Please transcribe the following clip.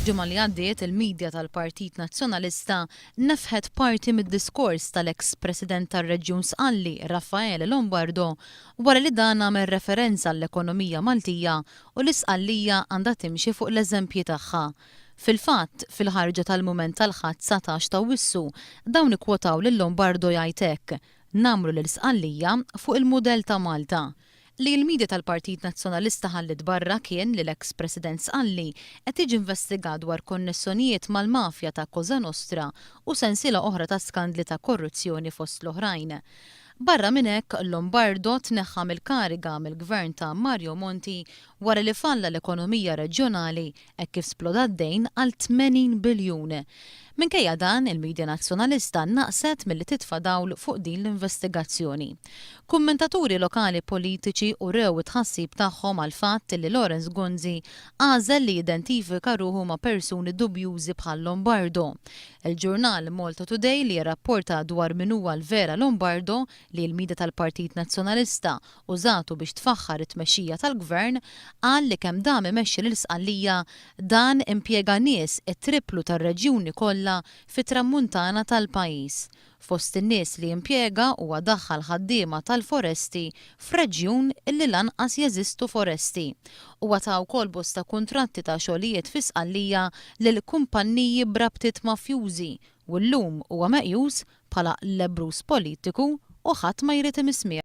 F'ġimgħa li għaddiet il-midja tal-Partit Nazzjonalista nefħet parti mid-diskors tal-eks President tar-Reġjun Sqalli Raffaele Lombardo wara li dan għamel referenza għall-ekonomija Maltija u li Sqallija għandha timxi fuq l-eżempji tagħha. Fil-fatt, fil-ħarġa tal-mument tal-Ħadd 19 t'Awwissu dawn ikkwotaw lil Lombardo jgħid hekk, Ngħammru lil Sqallija fuq il-mudell ta' Malta. Li l-media tal-Partit Nazzjonalista ħalliet barra kien li l-eks President Sqalli qed jiġi investigat dwar konnessonijiet mal-mafja ta' Cosa Nostra u sensiela oħra ta' skandli ta' korruzzjoni fost l-oħrajn. Barra minn hekk, Lombardo tneħħa mill-kariga mill-Gvern ta' Mario Monti wara li falla l-ekonomija reġjonali hekk kif sploda d-dejn għal 80 biljun. Minkejja dan, il-midja Nazzjonalista naqset milli titfa' dawl fuq din l-investigazzjoni. Kummentaturi lokali politiċi urew it-tħassib tagħhom għall-fatt li Lawrence Gonzi għażel li jidentifika ruħu ma' persuni dubjużi bħal Lombardo. Il-ġurnal Malta Today li jirrapporta dwar min huwa l-vera Lombardo, li l-midja tal-Partit Nazzjonalista użatu biex tfaħħar it-tmexxija tal-Gvern, qal li kemm dam imexxi lil Sqallija, dan impjega nies it-tripplu tar-reġjuni kollha fit-Tramuntana tal-pajjiż. Fost in-nies li impjega huwa daħħal ħaddiema tal-foresti f'reġjun li lanqas jeżistu foresti. Huwa ta wkoll bosta kuntratti ta' xogħlijiet fi Sqallija lil kumpanniji b'rabtiet mafjużi u llum huwa meqjus bħala lebbruż politiku u ħadd ma jrid imissmih.